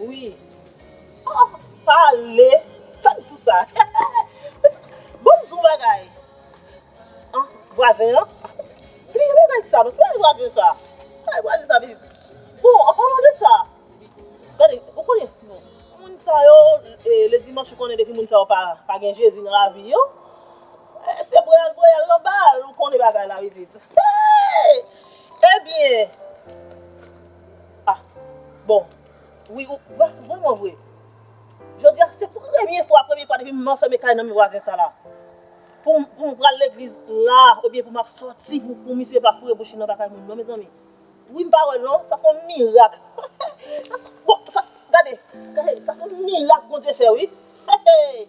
Wi Oh pale Fem tou sa Bon m di w bagay Anh vwazen an Bliye bagay sa non Kile vwazen sa Kilè vwazen sa vini Bon an palan de sa Gade ou konnen Moun sa yo le dimanch ou konnen depi moun sa yo pa gen jezi nan lavi yo Se boyal boyal nan bal ou konnen bagay la pitit Hey Ebyen Ah bon wi ou vreman vre jodia se premye fwa premye fwa depi m anfème kay nonm vwazen sa la pou m pral legliz la oubyen pou m ap soti pou misye pa foure bouch li anba kay moun non mezanmi wi m pa wè l non sa son mirak bon sa gade sa son mirak Bondye fè wi hehe.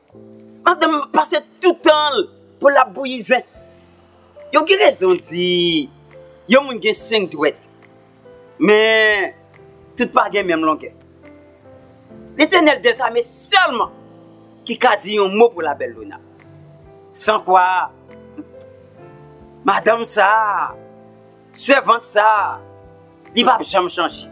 Madanm nan pase tout tan l pou l ap bouyi ze. Yo gen rezon di yon moun gen senk dwèt, men tout pa gen menm longè. Letènèl dèzame sèlman ki ka di yon mo pou la Bèlona. San kwa, madanm sa a, sèvant sa a, li pap janm chanje.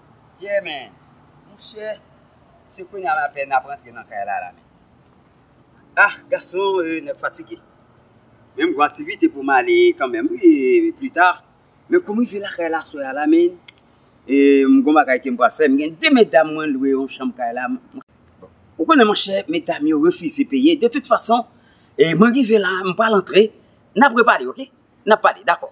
Yeah man Monchè se kounya m apèn ap rantre nan kay la la men Ah gason euh nèg fatige Men m gon aktivite pou m ale kanmenm wi plus tard Men kou m rive lakay la aswè a la man euh m gon bagay ke m pral fè M gen 2 medam mwen lwe yon chanm kay la m Ou konnen monchè medam yo refize peye De tout fason mwen rive la m pral antre N ap repale ok N ap pale dakò.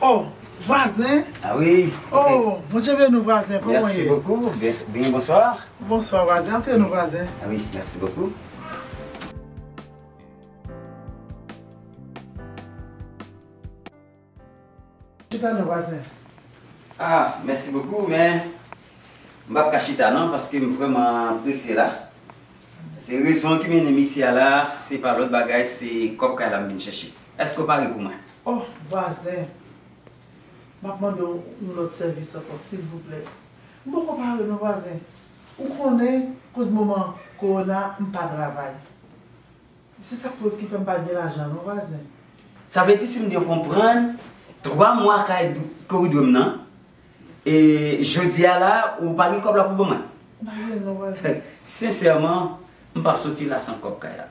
Oh vwazen oh Bondye beni w vwazen kòman w ye? Merci beaucoup Bien bonsoir Bonsoir vwazen antre nou vwazen Oui merci beaucoup. Chita non vwazen Ah merci beaucoup men m pap ka chita non paske m vrèman prese la Se rezon ki mennen m isi a la se pa lòt bagay se kòb kay la m vin chèche. Eske w pare pou mwen? Oh vwazen! Map mande w yon lòt sèvis ankò silvouplè. M poko pare non vwazen. Ou konnen koz moman kowona m pa travay. Se sak koz ki fè m pa gen lajan non vwazen. Sa vle di si m byen konprann 3 mwa kay ke w dwe m nan e jodi a la ou pa gen kòb la pou ban mwen? M pa gen non vwazen. Sensèman m pap soti la san kòb kay la.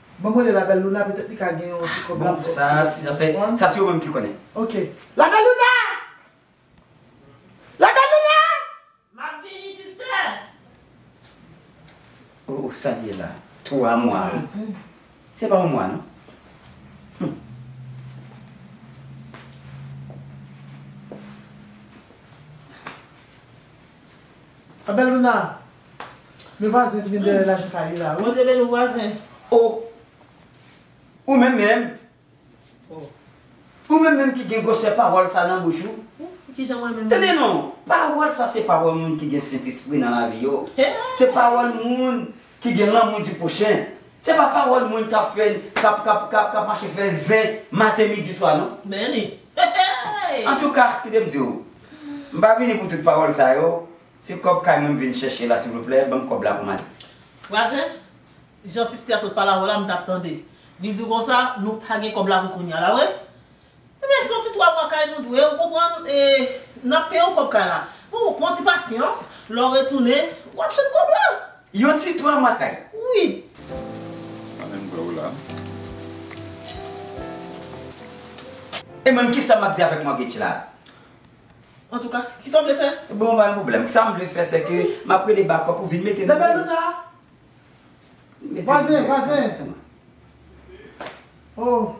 Banm rele la belle Luna petet li ka gen yon ti kob la pou sa se yo menm ki konnen. Ok. La belle Luna! La belle Luna! Map vini sister! Oh oh sa li ye la? 3 mwa wi. Se pa yon mwa non. La belle Luna! Men vwazen ki gen dèyè lajan kay li la wi. Bondye beniw vwazen. Oh Ou menm menm Ou menm menm ki gen gwosè pawòl sa nan bouch ou Tande non Pawòl sa se pawòl moun ki gen sentespri nan lavi yo Se pawòl moun ki gen lanmou di pwochen Se pa pawòl moun kap fè kap kap kap mache fè zen maten midi swa non Antouka kite m diw M pa vini pou tout pawòl sa yo Se kob kay mwen m vin chèche la silvouplè banm kob la pou m ale. Fraze, Jan siste a sot pale avè w la m tap tande li di w konsa nou pa gen kob la pou kounya la wi. Ebyen se yon ti 3 mwa kay nou dwe ou konprann e nap peye w kob kay la. Bon pran ti pasyans lè w retounen wap jwenn kob la. Yon ti 3 mwa kay? Wi. Mpa menm kwè w la. E mwen menm kisa map di avèk mòtgage la? Antouka, kisa w vle fè? Bon, pa gen pwoblèm. Sa m vle fè se ke m ap rele bakòp pou vin mete nan men l. Bèbèlouna! Vwazen, vwazen! O!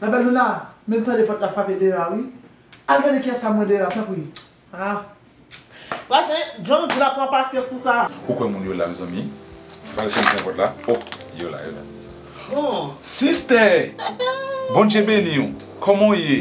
Bèbèlouna, men m tande pòt la frape deyò a wi. Al gade kiyès sa mwen deyò a, tanpri. A! Vwazen, jan w di la, pran pasyans pou sa. Ou kwè moun yo la, mezanmi? Vwazen fèmen pòt la. O! Yo la, yo la. Bon! Sistè! Bondje beni w! Kòman w ye?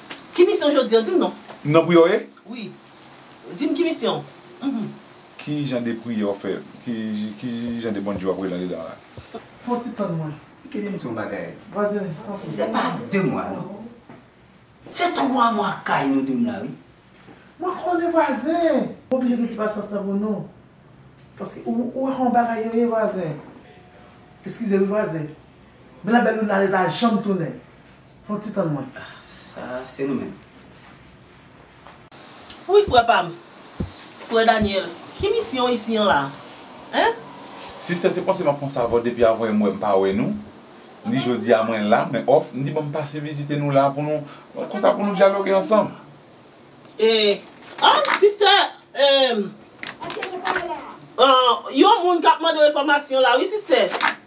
Ki misyon w jodi an? Di m non. M nan priyè w ye? Wi. Di m ki misyon w? Hum. Ki jan de priyè w fè? Ki jan de Bondye w ap rele andedan w la? Fon ti tann mwen. Kite m di w yon bagay. Vwazen, fon ti. Se pa de mwa non. Se twa mwa kay nou dou m la wi. Mwen konnen vwazen. M oblije gen ti pasyans nan pou nou. Paske ou wè kòman bagay yo ye vwazen. Eskize wi vwazen. Men la bèl Luna ale pa janm tounen. Fon ti tann mwen. Ah sa se nou menm. Wi frè pam. Frè Daniel. Ki misyon isi an la? Hein? Sister se panse map pran savon depi avan yom wè mpa wè nou ni jodia mwen la mwen off mdi banm pase vizite nou la pou nou konsa pou nou dyaloge ansanm. Eh anh sister eh anh yon moun kap mandew enfòmasyon la wi sister.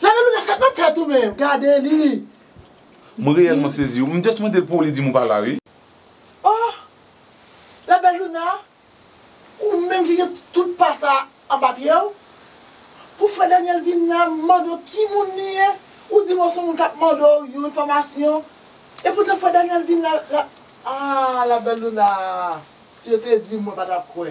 Lave lounè sa pa tèt ou menm, gade li. Mwen reyèlman sezi wi, m just mande l pou li di m ou pa la wi. Oh! La belle Luna, ou menm ki gen tout pa sa anba pye w? Pou frè Daniel vin la mande w ki moun li ye, ou di m ou son moun k ap mande w yon enfòmasyon. E poutan frè Daniel vin la, ah la belle Luna, si yo te di m mwen pa t ap kwè.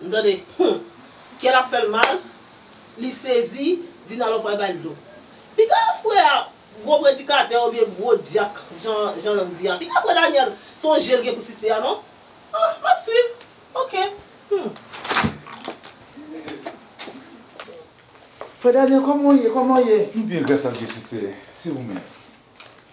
M tande Hum! Kè l ap fè l mal, li sezi, Dinalo pral bay l dlo. Piga frè a gwo predikatè oubyen gwo dyak jan Jan Lang di a. Piga frè Daniel se yon je l gen pou siste a non. Ah, m ap swiv. Ok. Hum! Frè Daniel, kòman w ye? Kòman w ye? Nou byen gras a Dye siste. Si ou menm?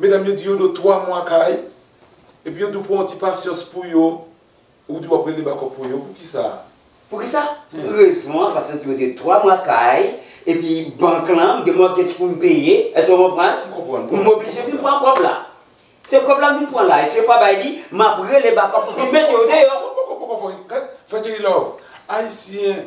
Medam yo di yo do 3 mwa kay epi yo di w pran yon ti pasyans pou yo, ou di w ap rele bakòp pou yo, poukisa? Poukisa? Rezon an paske yo de 3 mwa kay epi bank lan m gen mòtgej pou m peye, èske w konprann? M konprann. M oblije vin pran kòb la. Se kòb la m vin pran la e si yo pa bay li, m ap rele bakòp pou vin mete yo deyò. Poko poko poko fè Jerry love. Ayisyen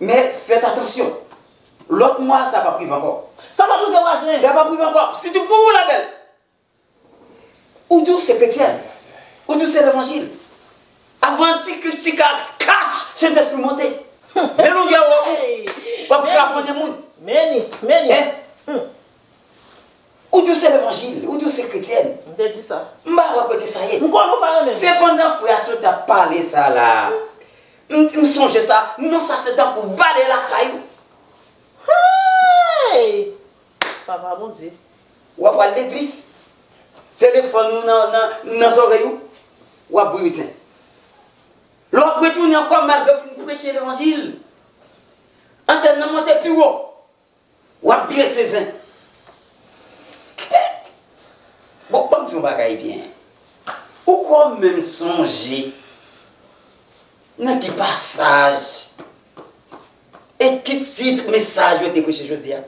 Men, fèt atansyon. Lòt mwa a, sa pap rive ankò. Sa pap rive vwazen. Sa pap rive ankò. Sitou pou ou la bèl. Ou di w se kretyèn. Ou di w se levanjil. Avan ti krik ti kak, kach! Sentespri monte. Lè longè wòm ou, wap kraponnen moun. Many, many. Hein? Hum. Ou di w se levanjil, ou di w se kretyèn. M te di sa. M pa wè kote sa ye. M konnen w pa renmen m. Se pandan frè a sot ap pale sa la a, m sonje sa, non sa se tankou bale lakay ou. Hey! Papa Bondye. W ap al legliz, telefòn ou nan zòrèy ou, w ap bwe rezen. Lè w ap retounen ankò malgre w fin preche levanjil, antèn nan monte pi wo, Wap drese zen. Kèt. Bon banm di yon bagay byen. Ou kwè w menm sonje nan ki pasaj e ki tit mesaj yo te preche jodia?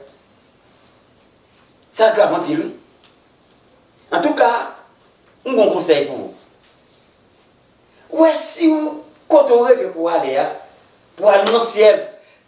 Sa grav anpil wi. Antouka, yon bon konsèy pou ou. Wè si w kote w reve pou w ale a, pou w al nan syèl.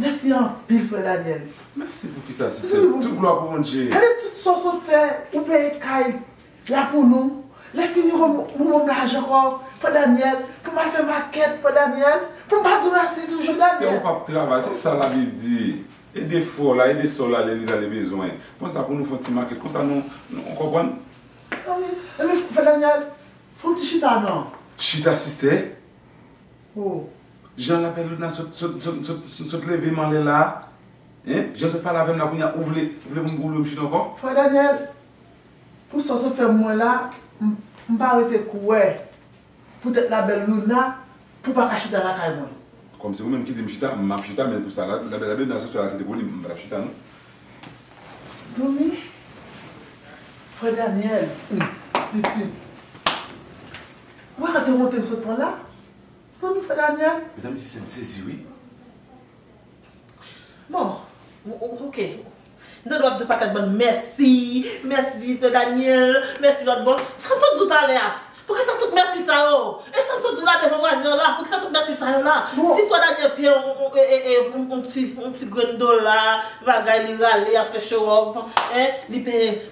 Mèsi anpil frè Daniel. Mèsi pou kisa si se tout glwa pou Bondye. Gade tout sa w sot fè ou peye kay la pou nou lè fini ou ban m lajan ankò frè Daniel pou m al fè makèt frè Daniel pou m pa di w mèsi toujou Daniel. Paske se ou pap travay se sa la bib di ede fò la ede sè w la lè li la li bezwen pran sa pou nou fon ti makèt konsa nou ou konprann. Mèsi anpil frè Daniel fon ti chita nan. Chita sister Hoo jan lapèlina sot levem anlè la hein jan sot pale avèm la kounya ou vle pou m goule bouch nou ankò. Frè Daniel pou sa w sot fè m wè la m pa rete k wè poutèt la bèl Luna pou w pa ka chita lakay mwen. Kòm se ou menm ki di m chita m ap chita men pou sa labelina sot fè la se te pou li m pa tap chita non. Zanmi frè Daniel humm pitit. Ou wè kantè monte m sot pran la? Zanmi frè Daniel? Mezanmi ti sèm sezi wi. Bon ok m ta dwe ap di paket moun mèsi, mèsi frè Daniel, mèsi lòt bon. Sa m sot di w talè a? Poukisa tout mèsi sa yo? E sa m sot di w la devan vwazen an la? Poukisa tout mèsi sa yo la? Si frè Daniel peye w yon ti grenn dola, bagay li rale ap fè show off, li peye.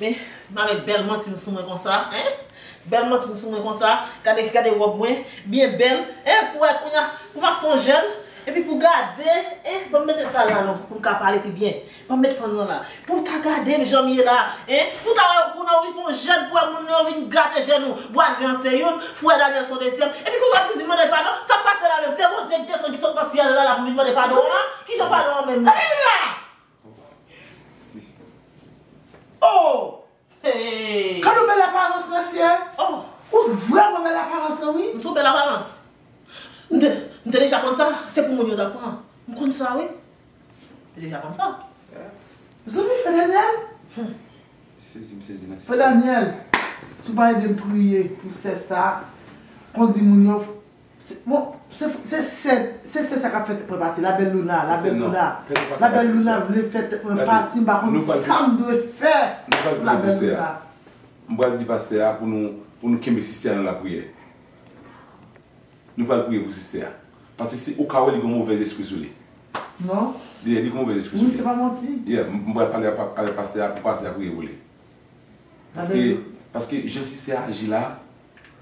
Men ma met bel mantim sou mwen konsa hein bel mantim sou mwen konsa gade gade rob mwen byen bel hein pou wè kounya pou ma fon jèn epi pou gade hein banm mete sa la non poum ka pale pi byen banm met fann lan la pou ta gadem janm ye la hein pou ta wè kounya ou vin fon jèn pou wè moun yo vin gate jèn nou vwazen an se youn frè Daniel son dezyèm epi kounya wap di vin mande padon sak pase la menm se Bondye ki desann ki sot nan syèl la la pou vin mande padon an kijan padon an menm la. Oh! Hey! Gad yon bèl aparans mesye! Oh! Ou vrèman bèl aparans lan wi! M son bèl aparans? M te, m te deja konn sa, se pou moun yo ta pran. M konn sa wi. M te deja konn sa. Mezanmi Fè Daniel! Hum! Sezi m sezi nan sistèm. Fè Daniel! Si w pa ede m priye pou sè sa, kondi moun yo. Bon se se sè se sè sa kap fè tèt mwen pati la belle Luna la belle Luna la belle Luna vle fè tèt mwen pati m pa konn sam dwe fè pou la belle Luna. M pral di pastè a pou nou pou nou kenbe siste a nan lapriyè nou pral priye pou siste a paske si ou ka wè li gon movèz espri sou li non yeah li gon movèz espri sou li yeah m pral pale avèk pastè a pou pastè a priye pou li paske paske jan siste a aji la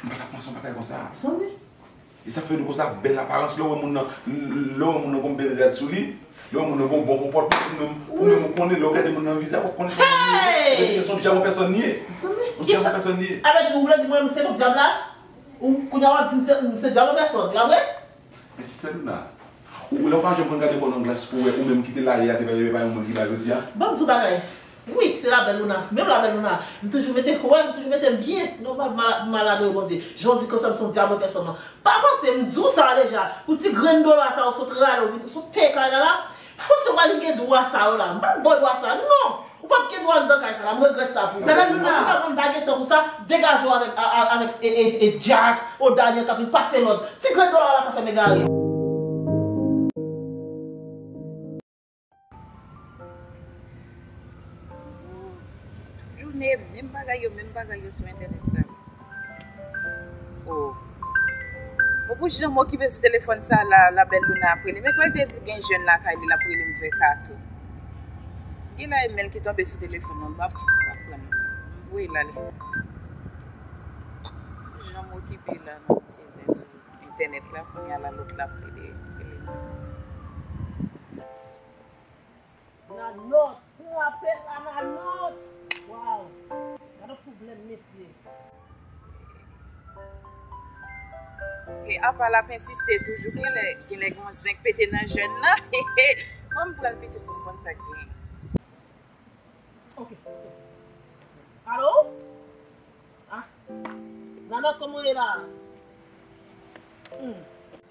M pa ta panse yon bagay konsa zanmi. E sa k fè nou konsa? Bèl aparans, lè w wè moun nan, lè w wè moun nan gon bèl rad sou li, lè w wè moun nan gon bon konpòtman pou menm, pou menm ou konnen lè w gade moun nan vizaj w ap konnen son moun li ye. Epi se son dyab an pèsòn li ye. Zanmi, kisa? Son dyab an pèsòn li ye. Alò di ou vle di mwen m se menm dyab la? Ou, kounya w ap di m se, m se dyab an pèsòn, la vre? Mesi seluna. Ou la ou pa janm konn gade kò nan glas pou wè ou menm kite la ye a se pa yon moun ki la jodi a. Banm di w bagay Wi se la belle Luna Menm la belle Luna M toujou mete wè m toujou mete m byen Nòmal m mal adore Bondye Jan w di konsa m son dyab an pèsòn nan Pa panse m di w sa deja Pou ti grenn dola sa ou sot rale ou sot peye kay la la Pa panse wap gen dwa sa yo la. M pap baw dwa sa non. Ou pap gen dwa anndan kay sa la. M regrèt sa pou ou. Dada luna. An touka mwen m pa gen tan pou sa. Degaje w avèk avèk Jack ou Daniel kap vin pase lòd. Ti grenn dola la ka fèm egare. Djoune menm bagay yo menm bagay yo sou entènèt sa yo oh bon pou janm okipe sou telefòn sa la la bèl Louna ap relem ekwèl te di gen jèn lakay li lap relem vè 4 ou gen la imèl ki tonbe sou telefòn mwen map pranl m voye lal pou janm okipe la nan ti zen sou entènèt la kounya la lòt la ap rele relem. Na not. Trapel la na not. Waw. Gade problem mesye. E apa lap ensiste toujou genlè genlè gon zen k pete nan jèn nan hehe fòm pranl pitit poum konn sak genyen. Ok ok Alo ah Nanòt kòman ou ye la humm.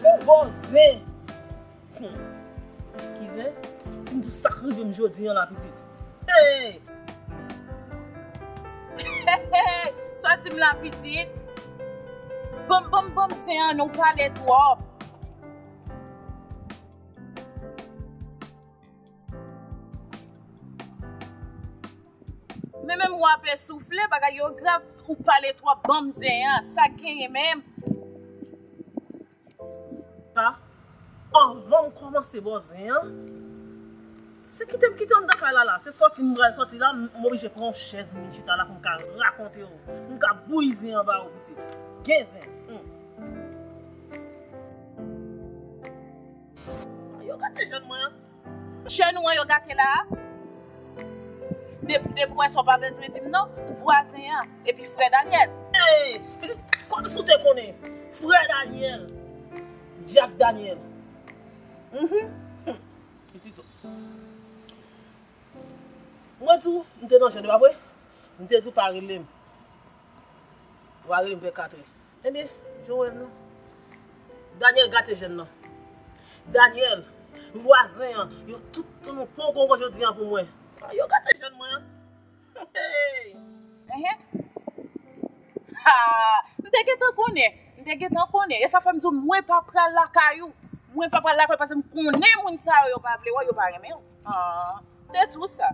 Fou bo zen. Hum. Ki zen? Sim di w sak rivem jodi an la pitit. Hey! Hey! Sa dim la pitit? Banm banm banm zen an non w pale twop. Men menm ou ape soufle bagay yo grav ou pale trop banm zen an sak genyen menm. Sa anvanm komanse bo zen an se kitem kite andan kay la la se soti m pral soti la m oblije pran yon chèz m vin chita la poum ka rakonte w poum ka bouyi zen an ba ou pitit gen zen humm. Yo gade jèn mwen an. Chè nou an yo gate la a? Depi depi wè sa w pa bezwen di m non, vwazen an, epi frè Danyèl. Ey! Pitit, kòmsi w te konnen? Frè Danyèl, dyak Danyèl. Uhmm, humm, pitit o. Mwen di w, m te nan jèn, e pa vre? M te di w pa rele m. Ou pa rele m vè katrè. Ebyen Joel nan. Daniel gate jèn nan. Daniel, vwazen an, yo tout tounou pongongon jodi an pou mwen. Ah yo gate jèn mwen an. Hey! Ehe. Haa! M te gentan konnen. M te gentan konnen. E sa fè m di w mwen pa pral lakay ou. Mwen pa pral lakay ou paske m konnen moun sa yo yo pa vle wè w, yo pa renmen w. Haa! M te di w sa.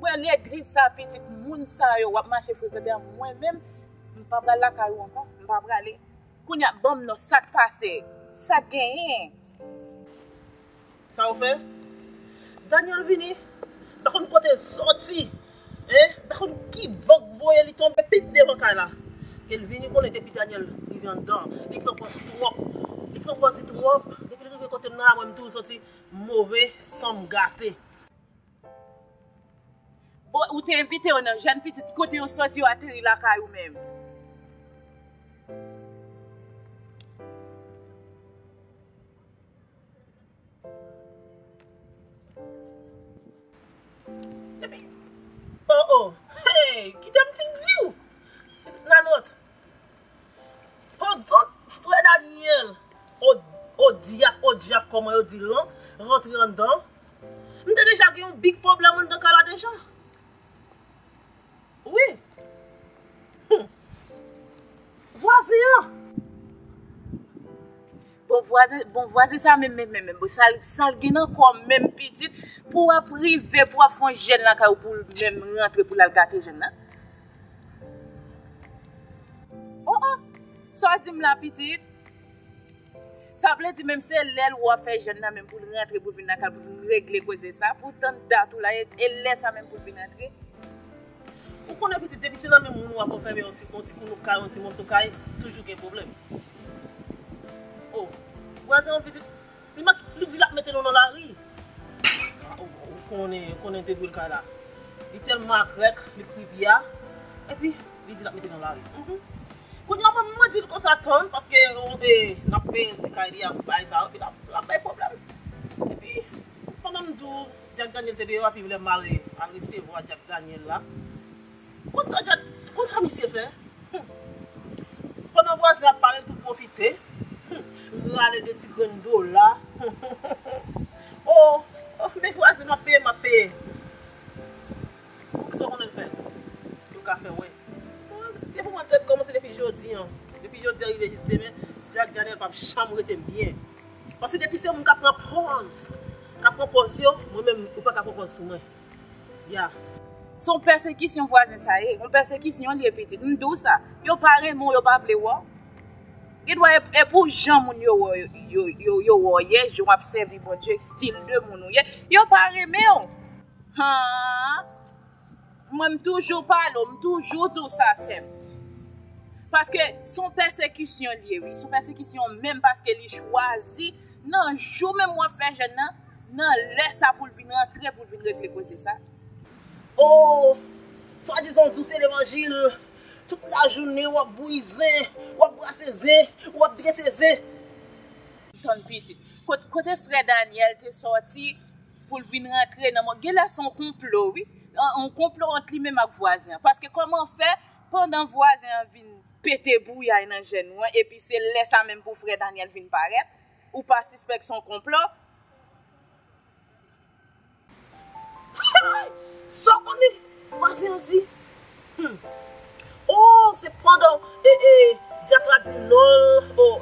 Mwen legliz sa pitit moun sa yo wap mache frekante a mwen menm m pa pral lakay ou ankò m pa prale kounya banm non sak pase sak genyen. Saw fè? Daniel vini m pa konn kote l soti hein m pa konn ki van k voye li tonbe pit devan kay la kel vini konnen depi Daniel rive anndan li pran pòz twòp li pran pòz li twòp depi l rive kote m nan a mwen m tou soti. move sanm gate. Bon ou te envite yo nan jèn pitit ki kote yo soti yo ateri lakay ou menm. Epi oh oh hey kitem fin diw nan not. Pandan frè Daniel, Odiak, Odyak kòman yo dil lan, rantre anndan, m te deja gen yon big pwoblèm anndan kay la deja. Wi. Humm. Vwazin an. Bon vwazen bon vwazen sa menm menm menm bon sal sal gen nan kòl menm pitit pou wap rive pou wap fè yon jèn lakay ou poul menm rantre poul al gate jèn nan oh oh sa wap dim la pitit sa vle di menm se lèl wap fè jèn nan menm poul rantre poul vin lakay ou poul regle koze sa pou tann dat ou la e lèsa menm poul vin rantre. Ou konnen pitit depi se nan men moun ou wap anfème yon ti yon ti koulouk kay yon ti mòso kay toujou gen pwoblèm oh vwazen an pitit li met li di lap mete nou nan lari ah ou ou konnen ou konnen debri kay la li tèlman akrèk li pran pi a epi li di lap mete nou nan lari humm kounye a mwen mwen dil konsa tann paske yon e lap peye ti kay li a bay sa yo epi lap lap bay pwoblèm epi pandan m di w. Jack Daniel te deyò epi lè Mare al resevwa Jack Daniel la konn sa Jack konn sa misye fè humm pandan vwazen ap pale l tou pwofite humm rale 2 ti grenn dola humm oh oh men vwazen map peye map peye poukisa w konnen l fè yo ka fè wè se pou mwen tèt kòmanse depi jodi an depi jodi a rive jis demen Jack Daniel pap janm rete byen. Paske depi se moun kap pran pòz kap pran pòz yo mwen menm ou paka pran pòz sou mwen yeah. Se yon pèsekisyon vwazen sa ye, yon pèsekisyon li ye pitit, m di w sa, yo pa renmen w yo pa vle wè w, gen dwa e pou jan moun yo wè w yo wè w ye, jan w ap sèvi Bondye, stil de moun ou ye, yo pa renmen w haa. Mwen m toujou pale w, m toujou di w sa sè m. Paske s on pèsekisyon li ye wi, s on pèsekisyon menm paske li chwazi nan jou menm w ap fè jèn nan, nan lè sa pou l vin rantre pou l vin regle koze sa. Oh, swadizan w di w se levanjil, tout lajounen w ap bouyi zen, w ap brase zen, w ap drese zen. Tann pitit. Kote frè Daniel te sòti? pou l vin rantre nan mond, genlè se yon konplo wi, yon konplo ant li menm ak vwazen an, paske kòman fè pandan vwazen an vin pete bouyay nan je nou an epi se lè sa menm pou frè Daniel vin parèt, ou pa sispèk se yon konplo? Hay! Sa w konnen vwazen an di? Humm ooh se pandan dyak la di nonl ooh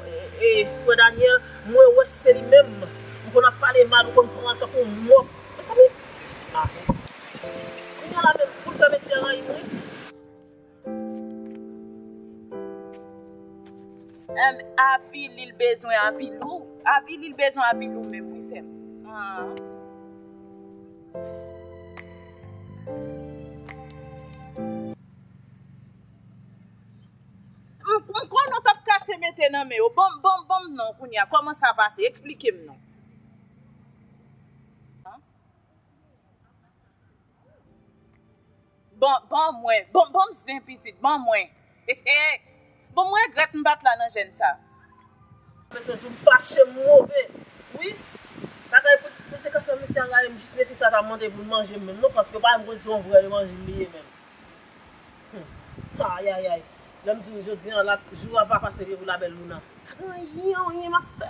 frè Daniel mwen wè se li menm ou konn ap pale mal ou konn pran tankou mò mezanmi ah kounya la menm poul fè mesye an rayim wi. Humm avi lil bezwen avilou avi lil bezwen avilou menm wi sèm aah. M konn nou tap kase mete nan men yo. Banm banm banm non kounye a. Koman sa pase? Eksplike m non. Ban, ban mwen, ban, ban m zen pitit, ban mwen, hehe. Bon m regrèt m pat la nan jèn sa. M bezwen di w m fache, m move wi. Bagay pou pou l te ka fè mesye a rayi m jis mesye sa ta mande pou l manje m menm non paske yo pa menm konn si on vrè levanjil li ye menm. Hum ayayay lè m di w jodi an la jou a pa pase vye pou la belle Luna. Pa gen anyen anyen m ap fè.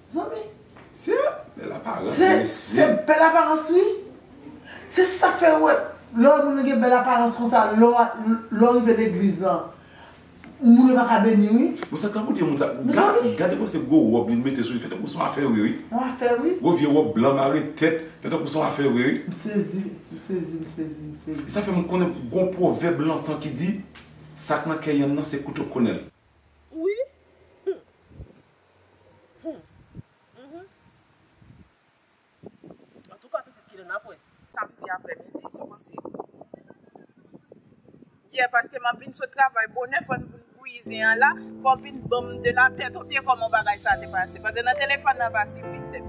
Zanmi. Se bèl aparans wi mesye. Se bèl aparans wi. Se sak fè ou wè lè yon moun gen bèl aparans konsa lè ou rive legliz lan moun yo paka beni wi. Bon sa tankou de moun sa. Mezanmi. Gade bon se gwo wòb li mete sou li fè tankou son afè vre wi. Yon afè wi. Gwo vye wòb blan mare tèt fè tankou son afè vre wi. M sezi, m sezi, m sezi, m sezi. E sa fè m konnen gwo pwovèb lontan ki di sak nan kè yanm nan se kouto konnenl. Wi. Hum. Humm humm antouka pitit kilè nap wè. Samdi aprè midi sa w panse. Yeah paske map vin sot travay bonè fòn vin bouyi zen an la fò vin banm de la tèt ou byen kòman bagay sa te pase paske nan telefòn nan pa sifi sèm.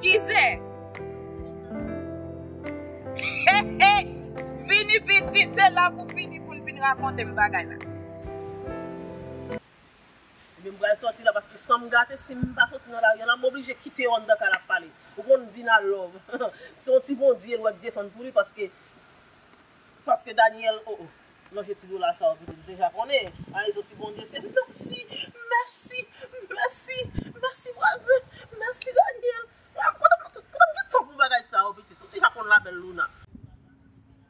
Ki zen? Heheh vini pitit se la pou vini poun vin rakontem bagay la. Ebyen m pral sòti la paske sanm gate sim pa sòti nan lari an la m oblije kite yo anndan kay la pale ou konn Dina love se yon ti bondye l wè k desann pou li paske paske Daniel oh oh nan je ti dola sa yo pitit m deja konnen Paraíso ti bondye se mèsi mèsi mèsi mèsi vwazen mèsi Daniel m kontan m kontan m gen tan pou bagay sa yo pitit ou deja konn la bèl Luna.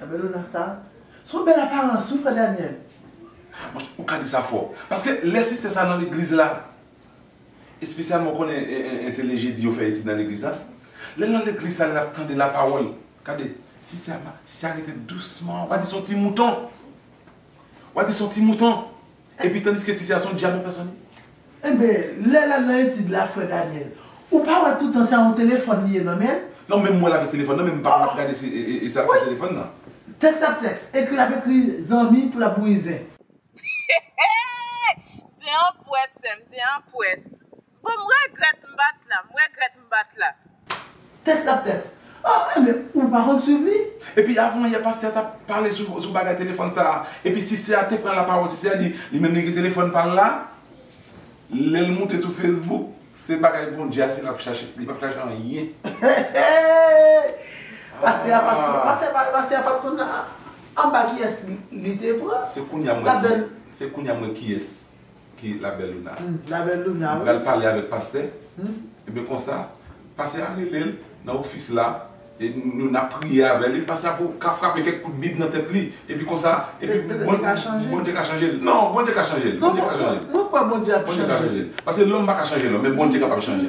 Nan Bellona sa. Se yon bèl aparans wi frè Daniel. Ah monchè ou ka di sa fò. Paske lè sister sa nan legliz la. Espesyalman ou konnen se le jedi yo fè etid nan legliz la. Lèl nan legliz sa lap tande la pawòl. Gade sister a pa sister a rete dousman. Ou ka di son ti mouton. Ou ka di son ti mouton. Epi tandiske Titi a son dyab yon pèsòn. Enben, lè lal nan etid la frè Daniel, ou pa wè toutan sa yon telefòn li ye nan menl? Non menm mwen lave telefòn nan menm pa wè lap gade se e sa lap fè telefòn nan. Tèks ap tèks, ekri lap ekri zanmi pou lap bouyi zen. Zen an pwès sèm, zen an pwès. Bon m regret m bat la. M regret m bat la. Tèks ap tèks. Ah men ou pa konn swiv li? Epi avan yè pastè a tap pale sou bagay telefòn sa epi siste a te pran la pawòl siste a di li menm li gen telefòn pal la lèl moute sou Facebook se bagay Bondye ase lap chache li pap chache anyen Pastè a pat konn pastè a pat konn anba kiyès li te pran se kounya mwen kiyès. ki la belle Luna. Humm la belle Luna wi. Li pral pale avek pastè. Humm. Ebyen konsa pastè a relel nan office la e nou nap priye avèl epi pastè a ka frape kèk kout bib nan tèt li epi konsa epi Bondye ka chanjel. Bondye ka chanjel non Bondye ka chanjel. Mwen kwè Bondye ap chanjel. Bondye ka chanjel. Paske lòm pa ka chanje lòm men Bondye kapab chanje.